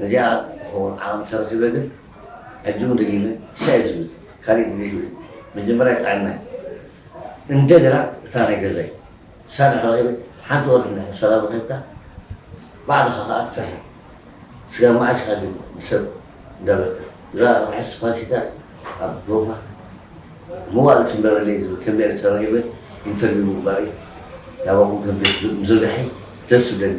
ነዚኣ ትኸውን ዓቕሚ ተረኺበ ግን ሕጂ ውን ደጊመ ሳይ ዝብል ካሊእ ድሌት የብለይን መጀመርያ ጥዕናይ እንደገና እታ ናይ ገዛይ ሳላ ክረኺበ ሓንቲ ወርሒ እንድሕር ሰላም ረኺብካ ባዕልኻ ከኣ ትፍሕር ስጋብ መዓስ ኢኻ ግን ንሰብ እንዳበልካ እዛ ርሑስ ፋሲካ ኣብ ዶፋ መዋእል ትንበረለይ ዝብል ከንብዕል ተረኺበ ኢንተርቪው ምግባረይ ናባኹም ከንብዕል ምዝርጋሐይ ደስ ዝብለኒ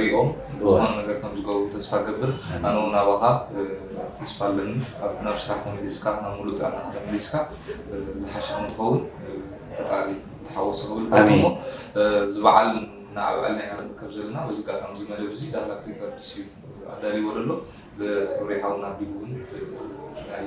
ሪኦም ዝኾነ ነገር ከም ዝገብሩ ተስፋ እገብር ኣነ ውን ኣባኻ ተስፋ ኣለኒ ኣብ ናብ ስራሕ ተመሊስካ ናብ ሙሉእ ጥዕናኻ ተመሊስካ ዝሓሸ ከም ትኸውን ፈጣሪ ተሓወሶ ክብል ኣሜን። እሞ እዚ በዓል ንኣብዕል ናይ ክንርከብ ዘለና በዚ ኣጋጣሚ እዚ መደብ እዚ ዳህላ ፕሪንተርስ እዩ ኣዳልይዎ ዘሎ ብሕብሪ ሓውና ኣቢሉ እውን ናይ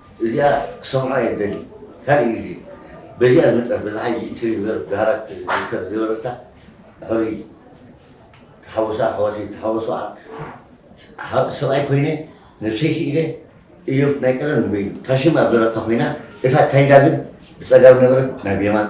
እዚኣ ክሰምዖ እየ ዝደሊ ካልእ ግዜ በዚኣ ዝመጸት በዛ ሕጂ እትሪ ዝነበረት ብሃራት ዝርከብ ዝነበረታ ሕሩይ ተሓወሶ ኣሕዋተይ ተሓወሶ ሰብኣይ ኮይነ ነብሰይ ክኢለ እዮብ ናይ ቀደም ንበይኑ ታሽም ኣብ ደረታ ኮይና እታ ታይዳ ግን ብጸጋም ነበረት ናብ የማን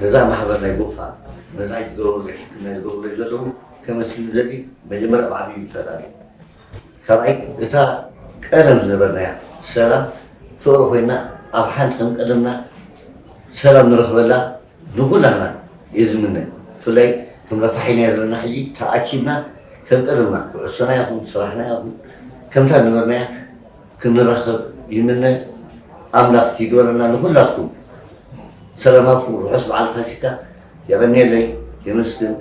ነዛ ማሕበር ናይ ጎፋ ነዛ ይግበሩለይ ሕክምና ይግበሩለይ ዘለዉ ከመስግን ዝደሊ መጀመርያ ብዓብዩ ንፈጣሪ ካልኣይ እታ ቀደም ዝነበርናያ ሰላም ፍቕሪ ኮይና ኣብ ሓንቲ ከም ቀደምና ሰላም ንረኽበላ ንኹላህና እየ ዝምነ ብፍላይ ከም ረፋሒናዮ ዘለና ሕጂ ተኣኪብና ከም ቀደምና ኩዕሶና ይኹን ስራሕና ይኹን ከምታ ዝነበርናያ ክንራኸብ ይምነ ኣምላኽ ይግበረልና ንኹላትኩም ሰላማትኩም ርሑስ በዓል ፋሲካ የቐንየለይ የመስግን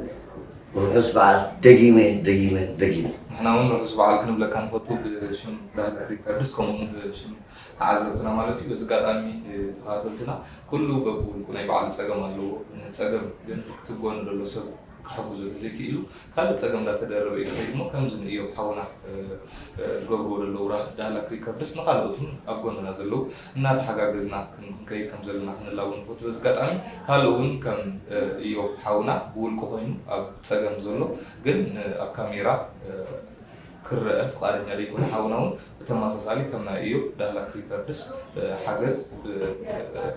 ርሑስ በዓል ደጊመ ደጊመ ደጊመ ንሕና እውን ርሑስ በዓል ክንብለካ ንፈቱ ብሽም ዳይሬክተር ሪከርድስ ከምኡውን ብሽም ተዓዘብትና ማለት እዩ በዚ ኣጋጣሚ ተኸታተልትና ኩሉ በብውልቁ ናይ በዓሉ ፀገም ኣለዎ ንፀገም ግን ክትጎኑ ዘሎ ሰብ ክሕግዞ ተዘይኪኢሉ ካልእ ጸገም እንዳተደረበ እዩ ዝኸይድ እሞ ከምዚ ንእዮብ ሓውና ዝገብርዎ ዘለዉ ዳህላክ ሪከርድስ ንኻልኦት ውን ኣብ ጎንና ዘለዉ እናተሓጋገዝና ክንከይድ ከም ዘለና ክንላቦ ንፈቱ በዚ ኣጋጣሚ ካልእ ውን ከም እዮብ ሓውና ብውልቁ ኮይኑ ኣብ ጸገም ዘሎ ግን ኣብ ካሜራ ክረኣ ፍቃደኛ ዘይኮነ ሓውና ውን ብተመሳሳሊ ከም ናይ እዮብ ዳህላክ ሪከርድስ ሓገዝ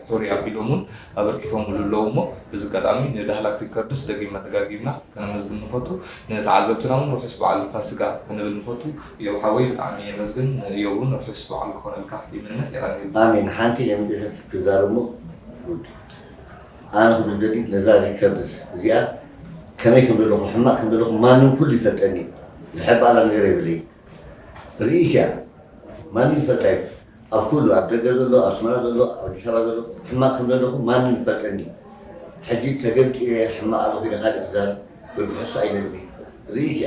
ሕሩይ ኣቢሎም ውን ኣበርኪቶምሉ ኣለዉ እሞ በዚ ኣጋጣሚ ንዳህላክ ሪከርድስ ደጊምና ደጋጊምና ከነመስግን ንፈቱ ንተዓዘብትና ውን ርሑስ በዓል ፋስጋ ክንብል ንፈቱ እዮብ ሓወይ ብጣዕሚ የመስግን ንእዮብ ውን ርሑስ በዓል ክኾነልካ ይምነ የቀንየልና። ኣሜን ሓንቲ ኤምዲሕስ ክዛረብ እሞ ቡድድ። ኣነ ክብል ዝደሊ ነዛ ሪከርድስ እዚኣ ከመይ ከም ዘለኹ ሕማቅ ከም ዘለኹ ማንም ኩሉ ይፈልጠኒ እዩ ዝሕባላ ነገር የብለይ ርኢት እያ ማንም ይፈልጣ እዩ ኣብ ኩሉ ኣብ ደገ ዘሎ ኣብ ኣስመራ ዘሎ ኣብ ኣዲስ ኣበባ ዘሎ ሕማቅ ከም ዘለኹ ማንም ይፈልጠኒ እዩ ሕጂ ተገምጢለ ሕማቅ ኣለኹ ኢለ ካልእ ክዛረብ ወይ ክሕሱ ኣይደልን ርኢት እያ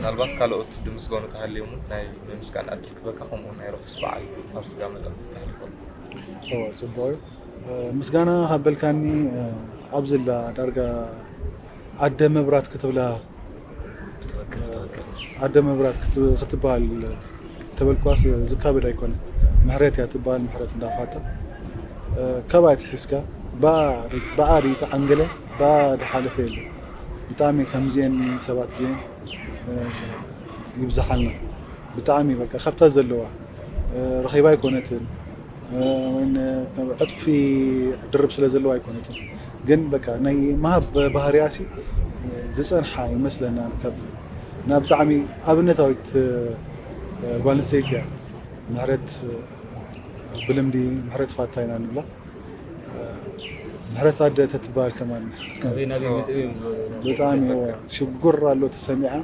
ምናልባት ካልኦት ድምስገኑ ተሃልዮም እውን ናይ ምስጋና ዕድል ክበካ ከምኡ ናይ ርሑስ በዓል ፋስጋ መልእኽቲ ተሕልፈሉ ፅቡቅ እዩ ምስጋና ካበልካኒ ኣብዝላ ዳርጋ ኣደ መብራት ክትብላ ኣደ መብራት ክትበሃል ተበልኳስ ዝካበድ ኣይኮነ ምሕረት እያ ትበሃል ምሕረት እንዳፋጠ ካብኣ ትሒዝካ ብኣ ርእቲ ዓንገለ ብኣ ድሓለፈ የለ ብጣዕሚ ከምዚኤን ሰባት እዚኤን ይብዝሓልና ብጣዕሚ በቃ ካብታ ዘለዋ ረኺባ ኣይኮነትን ዕፅፊ ድርብ ስለ ዘለዎ ኣይኮነትን ግን በቃ ናይ ምሃብ ባህርያሲ ዝፀንሓ ይመስለና ካብ እና ብጣዕሚ ኣብነታዊት ጓል ኣንስተይቲ እያ ምሕረት ብልምዲ ምሕረት ፋታ ኢና ንብላ ምሕረት ኣደ ተትበሃል ከማን ብጣዕሚ ሽጉር ኣሎ ተሰሚዓ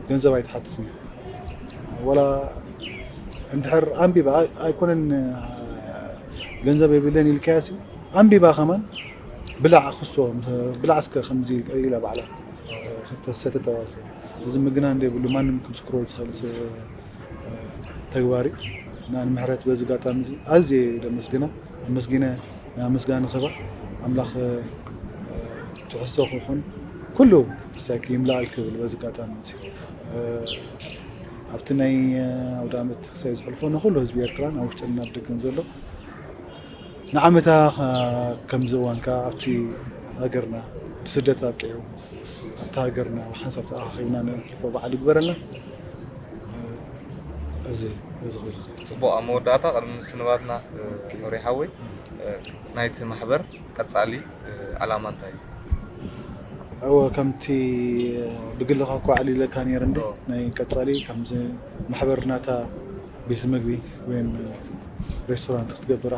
ገንዘብ ኣይትሓትትን ወላ እንድሕር ኣንቢባ ኣይኮነን ገንዘብ የብለይን ኢልካያሲ ኣንቢባ ከማን ብላዕ ክሶ ብላዕ እስከ ከምዚ ኢላ ባዕላ ክተክሰተ ተዋሰ እዚ ምግናን ዘይብሉ ማንም ክምስክሮ ዝኽእል ተግባር እዩ እና ንምሕረት በዚ ጋጣሚ እዚ ኣዝየ ደመስግና ኣመስጊነ ናይ ምስጋና ክባ ኣምላኽ ትሕዝቶ ክኹን ኩሉ ሳይክ ይምላኣል ክብል በዚ ጋጣሚ እዚ ኣብቲ ናይ ኣውዳመት ክሳብ ዝሕልፎ ንኩሉ ህዝቢ ኤርትራን ኣብ ውሽጥን ኣብ ደገን ዘሎ ንዓመታ ከምዚ እዋን ከዓ ኣብቲ ሃገርና ብስደት ኣብቂዑ ኣብቲ ሃገርና ብሓንሳብ ተኣኻኺብና ንሕልፎ በዓል ይግበረልና እዚ እዚ ክብል ጽቡቅ ኣብ መወዳእታ ቅድሚ ምስንባትና ኖሪ ሓወይ ናይቲ ማሕበር ቀጻሊ ዕላማ እንታይ እዩ? እወ ከምቲ ብግልኻ እኳ ኣዕሊለካ ነይረ እንደ ናይ ቀጻሊ ከምዚ ማሕበር ናታ ቤት ምግቢ ወይ ሬስቶራንት ክትገብር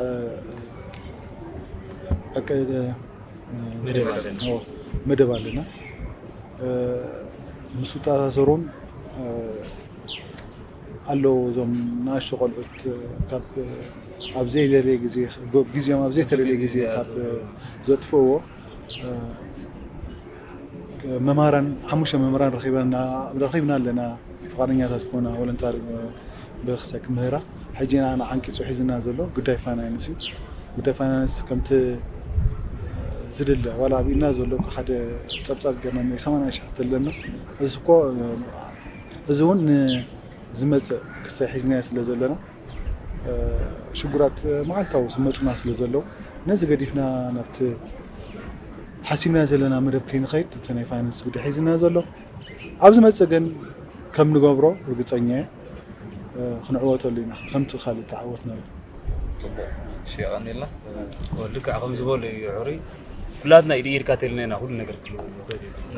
መደብ ኣለና ምስ ውተኣሳሰሮም ኣለዉ እዞም ንኣሽቱ ቆልዑት ካብ ኣብ ዘይደልየ ግዜ ግዚኦም ኣብ ዘይተደልየ ግዜ ካብ ዘጥፍእዎ መማራን ሓሙሽተ መምህራን ረኺበና ረኺብና ኣለና ፍቃደኛታት ኮና ወለንታሪ ብክሰ ክምህራ ሕጂ ንኣና ዓንቂጹ ሒዝና ዘሎ ጉዳይ ፋይናንስ እዩ ጉዳይ ፋይናንስ ከምቲ ዝድለ ዋላ ኣብ ኢድና ዘሎ ሓደ ጸብጻብ ገርና ናይ 80 ሽሕ ተለና እዚ እኮ እዚ እውን ንዝመፅእ ክሳይ ሒዝናዮ ስለ ዘለና ሽጉራት መዓልታዊ ዝመፁና ስለ ዘለዉ ነዚ ገዲፍና ናብቲ ሓሲብናዮ ዘለና መደብ ከይንኸይድ እቲ ናይ ፋይናንስ ጉዳይ ሒዝና ዘሎ ኣብ ዝመፅእ ግን ከም ንገብሮ ርግፀኛ እየ ክንዕወተሉ ኢና ከምቲ ካልእ ተዓወትናሉ ፅቡቅ እሺ የቀንየልና ልክዕ ከምዝበሎ እዩ ዑሩይ ኩላትና ኢድ ኢድ ካተልና ኢና ኩሉ ነገር ክልወጥ ዝክእል እዩ ዝብሎ።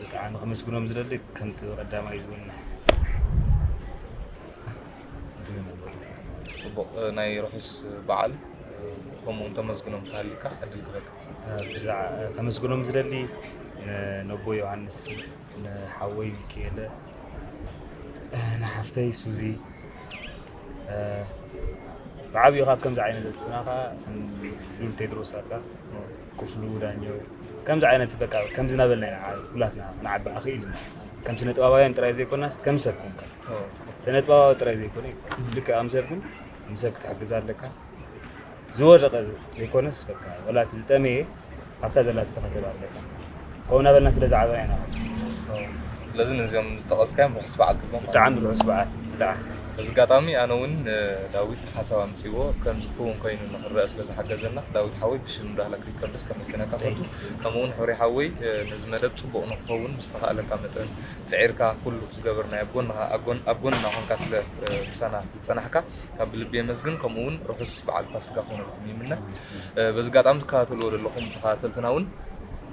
ብጣዕሚ ክምስግኖም ዝደሊ ከምቲ ቀዳማይ ዝውን ፅቡቅ ናይ ርሑስ በዓል ከምኡ እውን ተመስግኖም ተሃሊካ ዕድል ክበል ከመስግኖም ዝደሊ ነቦ ዮሃንስ ንሓወይ ሚካኤለ ንሓፍተይ ሱዚ ብዓብዩ ካብ ከምዚ ዓይነት ዘጥፍና ከዓ ሉል ቴድሮስ ኣላ ክፍሉ ዳኘው፣ ከምዚ ዓይነት በቃ ከምዚ እናበልና ኢና ዓብ ኩላትና ክንዓቢ ኣኽኢልና። ከም ስነጥበባውያን ጥራይ ዘይኮናስ ከም ሰብ ኮንካ። ስነጥበባዊ ጥራይ ዘይኮነ ይኮን ልክዕ ከም ሰብ ግን ንሰብ ክትሕግዝ ኣለካ። ዝወደቐ ዘይኮነስ በቃ ወላ እቲ ዝጠመየ ኣብታ ዘላቶ ተኸተል ኣለካ። ከምኡ እናበልና ስለ ዝዓበና ኢና ስለዚ ነዚኦም ዝጠቐስካዮም ርሑስ በዓል ትብሎም ማለት ብጣዕሚ ርሑስ በዓል ብጣዕሚ እዩ። በዚ ኣጋጣሚ ኣነ እውን ዳዊት ሓሳብ ኣምፅዎ ከምዚ ክውን ኮይኑ ንክረአ ስለ ዝሓገዘና ዳዊት ሓወይ ብሽም ዳህላክ ሪከርድስ ከመስግነካ ፈቱ ከምኡ እውን ሕሩይ ሓወይ እ፣ ነዚ መደብ ፅቡቕ ንክኸውን ብዝተኻእለካ መጠን ፅዒርካ ኩሉ ዝገበርናዮ ኣብ ጎንኻ ኣብ ጎን- ኣብ ጎንና ኮንካ ስለ እ፣ ምሳና ዝፀናሕካ ካብ ብልቢ የመስግን ከምኡ እውን ርሑስ በዓል ፋሲካ ክኾነልኩም ይምነ በዚ ኣጋጣሚ ትከታተልዎ ዘለኹም ተኸታተልትና ውን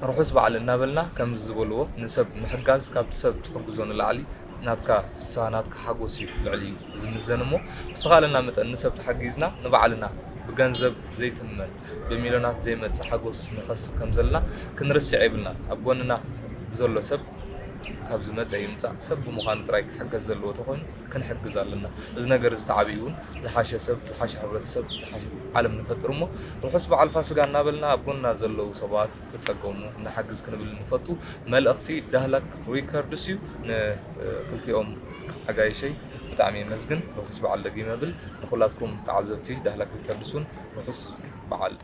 ርሑስ በዓል እናበልና ከምዚ ዝበልዎ ንሰብ ምሕጋዝ ካብቲ ሰብ ትሕግዞ ንላዕሊ ናትካ ፍስሃ ናትካ ሓጎስ እዩ ልዕሊ እዩ ዝምዘን እሞ ብዝተኻእለና መጠን ንሰብ ተሓጊዝና ንባዕልና ብገንዘብ ዘይትመን ብሚልዮናት ዘይመጽእ ሓጎስ ንኸስብ ከም ዘለና ክንርስዕ የብልናን ኣብ ጎንና ዘሎ ሰብ ካብ ዝመጸ ይምጻእ ሰብ ብምዃኑ ጥራይ ክሕገዝ ዘለዎ ተኾይኑ ክንሕግዝ ኣለና። እዚ ነገር እዚ ተዓብዩ እውን ዝሓሸ ሰብ፣ ዝሓሸ ሕብረተሰብ፣ ዝሓሸት ዓለም ንፈጥር እሞ ርሑስ በዓል ፋስጋ እናበልና ኣብ ጎንና ዘለዉ ሰባት ዝተፀገሙ ንሓግዝ ክንብል ንፈቱ። መልእኽቲ ዳህላክ ሪከርድስ እዩ። ንክልቲኦም ኣጋይሸይ ብጣዕሚ የመስግን። ርሑስ በዓል ደጊመ እብል። ንኹላትኩም ተዓዘብቲ ዳህላክ ሪከርድስ እውን ርሑስ በዓል።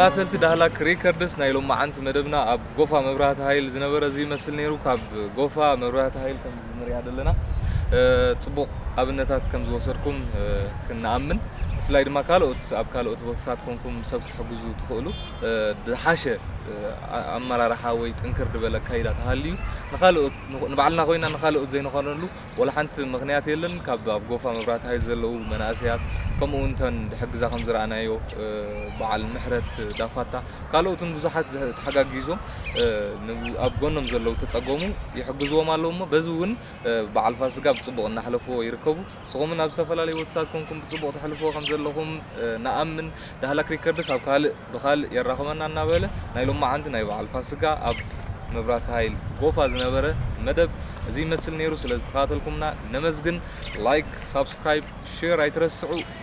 ተኸታተልቲ ዳህላክ ሪከርድስ ናይ ሎማዓንቲ መደብና ኣብ ጎፋ መብራህቲ ሃይል ዝነበረ እዚ ይመስል ነይሩ ካብ ጎፋ መብራህቲ ሃይል ከም ንሪኣ ዘለና ፅቡቕ ኣብነታት ከም ዝወሰድኩም ክንኣምን ብፍላይ ድማ ካልኦት ኣብ ካልኦት ቦታታት ኮንኩም ሰብ ክትሕግዙ ትኽእሉ ዝሓሸ ኣመራርሓ ወይ ጥንክር ድበለ ኣካይዳ ተሃልዩ ንኻልኦት ንባዕልና ኮይና ንኻልኦት ዘይንኾነሉ ወላ ሓንቲ ምኽንያት የለን። ካብ ኣብ ጎፋ መብራህቲ ሃይል ዘለዉ መናእሰያት ከምኡ እውን እተን ድሕግዛ ከም ዝረኣናዮ በዓል ምሕረት ዳፋታ ካልኦትን ብዙሓት ተሓጋጊዞም ኣብ ጎኖም ዘለዉ ተፀገሙ ይሕግዝዎም ኣለዉ እሞ በዚ እውን በዓል ፋስጋ ብፅቡቕ እናሕለፍዎ ይርከቡ። ንስኹምን ኣብ ዝተፈላለዩ ወትሳት ኮንኩም ብጽቡቕ ተሕልፍዎ ከም ዘለኹም ንኣምን፣ ዳህላክ ሪከርድስ ኣብ ካልእ ብካልእ የራኽበና እናበለ ናይ ሎማዓንቲ ናይ በዓል ፋስጋ ኣብ መብራህቲ ሃይል ጎፋ ዝነበረ መደብ እዚ ይመስል ኔሩ ስለ ዝተከታተልኩምና ነመስግን ላይክ ሳብስክራይብ ሼር ኣይትረስዑ።